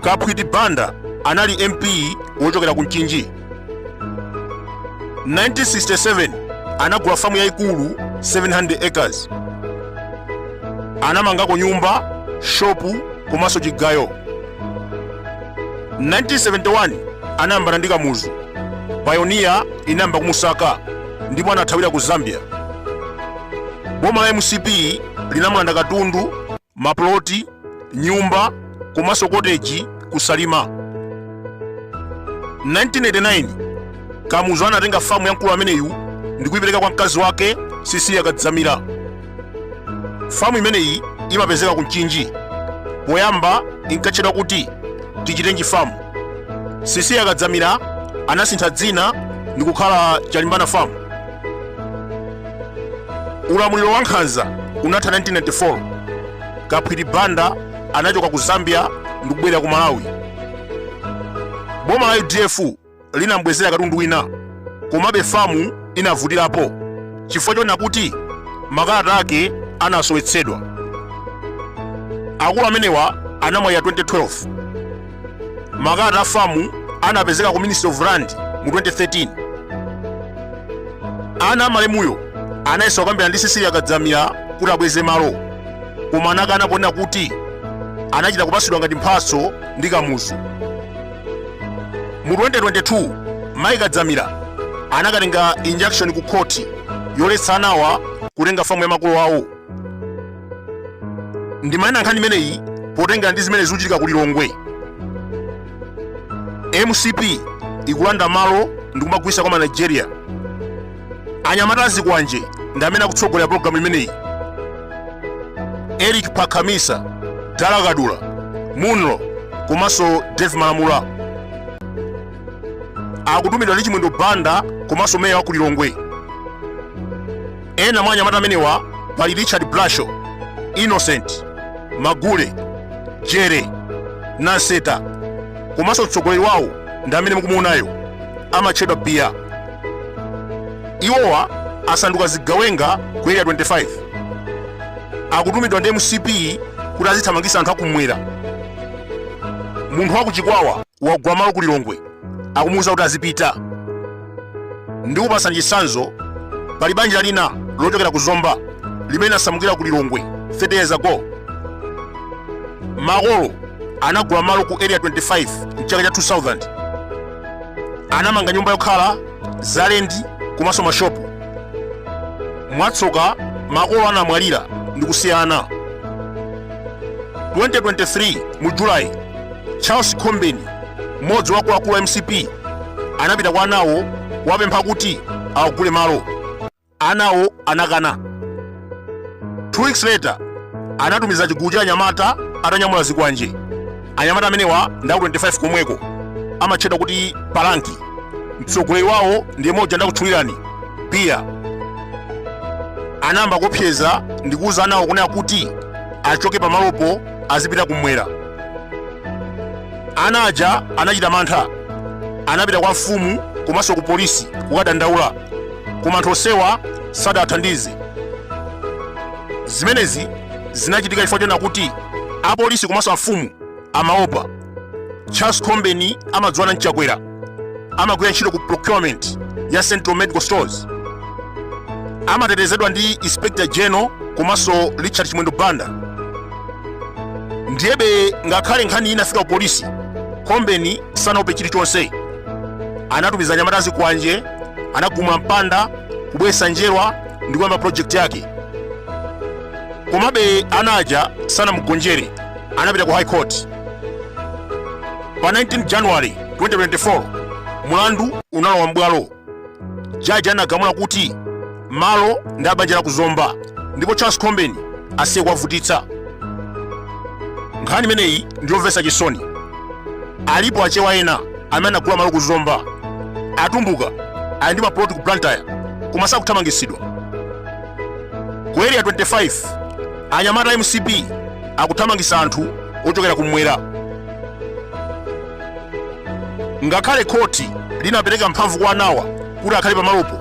kaphwiti banda anali mp wochokera ku mchinji 1967 anagula famu yayikulu 700 acres anamangako nyumba shopu komanso chigayo 1971 anayambana ndi kamuzu payoniya inayamba kumusaka ndipo anathawira ku zambia boma la mcp linamulanda katundu mapuloti, nyumba komanso koteji ku Salima. 1989 Kamuzu anatenga famu ya mkulu ameneyu ndi kuyipereka kwa mkazi wake Sisiliya Kadzamira. Famu imeneyi imapezeka ku Mchinji. Poyamba inkatchedwa kuti Tichitenji famu. Sisiliya Kadzamira anasintha dzina ndi kukhala Chalimbana famu. ulamuliro wa nkhanza unatha 1994 kaphwiti banda anachoka ku zambia ndi kubwerera ku malawi boma la udf linambwezera katundu wina komabe famu inavutirapo chifukwa chonena kuti makalata ake anasowetsedwa akulu amenewa anamwalira 2012 makalata a famu anapezeka ku ministry of land mu 2013 ana amalemuyo anayesa kukambirana ndi sisiliya kadzamira kuti abweze malo koma anakana ponena kuti anachita kupatsidwa ngati mphatso ndi kamuzu mu 2022 mayi kadzamira anakatenga injunction ku khoti yoletsa anawa kutenga famu ya makolo awo ndimanena nkhani imeneyi potengera ndi zimene zikuchitika ku lilongwe mcp ikulanda malo ndi kumagulitsa kwa manigeria anyamata azikwanje ndi amene akutsogolera pologalamu imeneyi eric phakamisa dala kadula munlo komanso dave malamula akutumidwa ndi chimwendo banda komanso meya wa ku lilongwe Ena mwa anyamata amenewa pali Richard Blasho, Innocent Magule, Jere Nanseta komanso mtsogoleri wawo ndi amene mukumuonayo amatchedwa Biya. Iwowa asanduka zigawenga ku Area 25 akutumidwa ndi mcp kuti azithamangisa anthu akumwera munthu wakuchikwawa wagula malo ku lilongwe akumuwuza kuti azipita. Ndikupatsani chitsanzo, pali banja lina lochokera ku Zomba limene linasamukira ku Lilongwe 30 years ago. Makolo anagula malo ku Area 25 m'chaka cha 2000. Anamanga nyumba yokhala, zalendi komanso mashopu. Mwatsoka makolo anamwalira ndi kusiya ana. 2023 mu July Charles Khombeni, mmodzi wa akuluakulu a mcp, anapita kwa anawo kuwapempha kuti awagule malo. Anawo anakana. Two weeks later, anatumiza chigulu cha anyamata atanyamula zikwanje. Anyamata amenewa ndi aku 25 komweko, amatchedwa kuti Palanki. Mtsogoleri wawo ndiye mmodzi ndakutchulirani Piya. Anayamba kuopseza ndi kuuza anawo kunena kuti achoke pamalopo azipita kumwera. ana aja anachita mantha anapita kwa mfumu komanso ku polisi kukadandaula koma anthu onsewa sadathandize zimenezi zinachitika chifukwa chonena kuti apolisi komanso amfumu amaopa charles khombeni amadziwana ndi chakwera amagwira ntchito ku procurement ya central medical stores amatetezedwa ndi inspector general komanso richard chimwendo banda ndiyebe ngakhale nkhani inafika ku polisi khombeni sanaope chilichonse anatumiza anyamata azikwanje anagumula mpanda kubweretsa njerwa ndi kuyamba project yake komabe ana aja sanamugonjere anapita ku high court pa 19 january 2024 mulandu unalowa mbwalo jaji anagamula kuti malo ndi abanja la ku zomba ndipo charles khombeni asiye kuwavutitsa nkhani imeneyi ndiyomvetsa chisoni alipo achewa ena amene anagula malo ku zomba atumbuka ali ndi mapuloti ku blantyre koma sakuthamangitsidwa ku area 25 anyamata a mcp akuthamangitsa anthu ochokera kumwera ngakhale khoti linapereka mphamvu kwa anawa kuti akhale pamalopo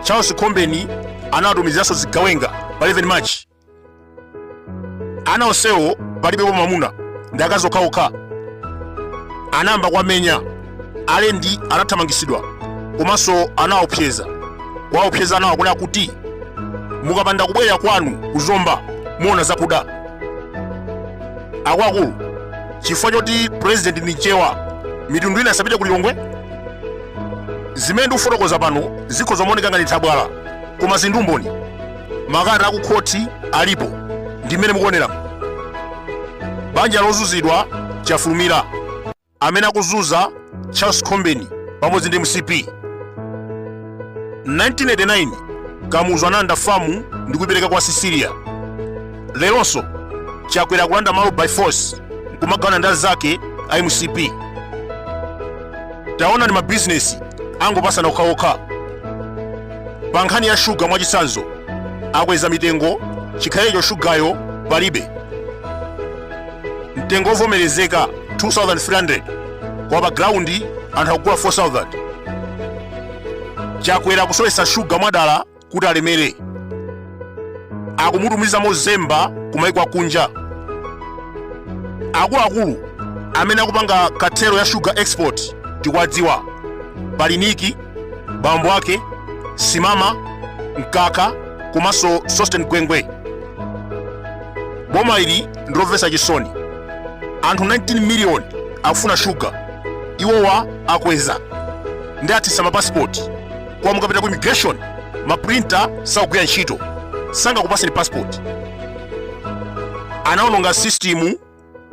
charles khombeni anawatumiziranso zigawenga pa 11 march ana onsewo palibepo mwamuna ndi akazi okhaokha anayamba kuwamenya alendi anathamangisidwa komanso anawaopseza kuwaopseza anawa kunena kuti mukapanda kubwerera kwanu ku zomba muona zakuda akuluakulu chifukwa choti purezidenti ndi mchewa mitundu ina isapite ku lilongwe zimene ndikufotokoza pano zikhoza kumaoneka ngati nthabwala koma zili ndi umboni makalata akukhoti alipo ndi mmene mukuonera banja lozunzidwa chafulumira amene akuzuza Charles Khombeni pamodzi ndi mcp 1989 kamuzu analanda famu ndi kuipereka kwa Cecilia leronso chakwera akulanda malo by force nkumagawana ndi anzake a mcp taonani mabizinesi angopasana okhaokha pa nkhani ya shuga mwachitsanzo akweza mitengo chikhalecho shugayo palibe mtengo wovomerezeka 2300 koma pa ground anthu akugula 4000 chakwera akusowetsa shuga mwadala kuti alemere akumutumiza mozemba kumaiko akunja akuluakulu amene akupanga cartel ya shuga export tikuwadziwa pali Nick bambo ake simama mkaka komanso sosten gwengwe boma ili ndilomvetsa chisoni anthu 19 miliyoni akufuna shuga iwowa akweza ndi a fees ya mapasipoti koma mukapita ku immigration maprinta sakugwira ntchito sangakupaseni pasipoti anaononga sistimu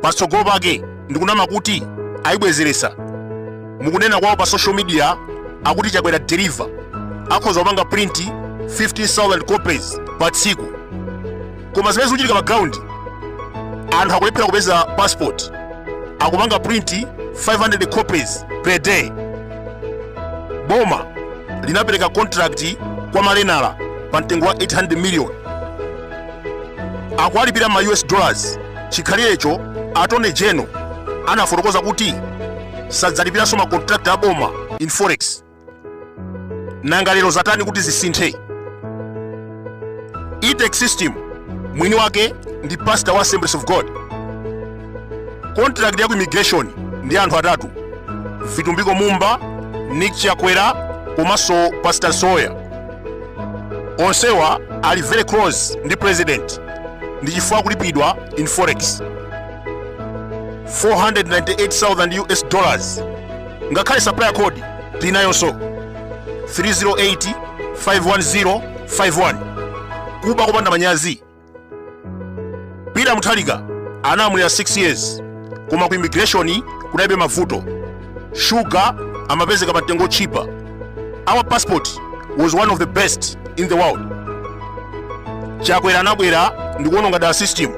patsogolo pake ndikunama kuti ayibwezeretsa mukunama kwawo pa social media akuti chakwera delivers akhoza kupanga print 15000 copies pa tsiku koma zimene zikuchitika pa ground anthu akulephera kupeza passport akupanga print 500 copies per day boma linapereka contract kwa malenala pa mtengo wa 800 million akuwalipira ma us dollars chikhalirecho attorney general anafotokoza kuti sadzalipiranso makontrakti a boma in forex nanga lero zatani kuti zisinthe E-Tech system mwini wake ndi pastor wa assemblies of god contract ya ku immigration ndi anthu atatu vitumbiko mumba nick chakwera komanso pastor soya onsewa ali very close ndi president ndi chifukwa akulipidwa in forex 498,000 us dollars ngakhale supplier code tinayonso 308 510 51 kuba kopanda manyazi peter mutharika analamulira 6 years koma ku immigration kunalibe mavuto shuga amapezeka pa mtengo otchipa our passport was one of the best in the world chakwera anabwera ndikuononga dala system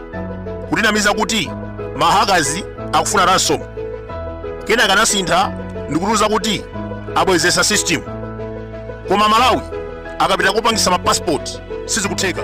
kutinamiza kuti mahakazi akufuna ransom kenaka anasintha ndikutiuza kuti abwezesa system koma amalawi akapita kopangisa mapasipoti sizikutheka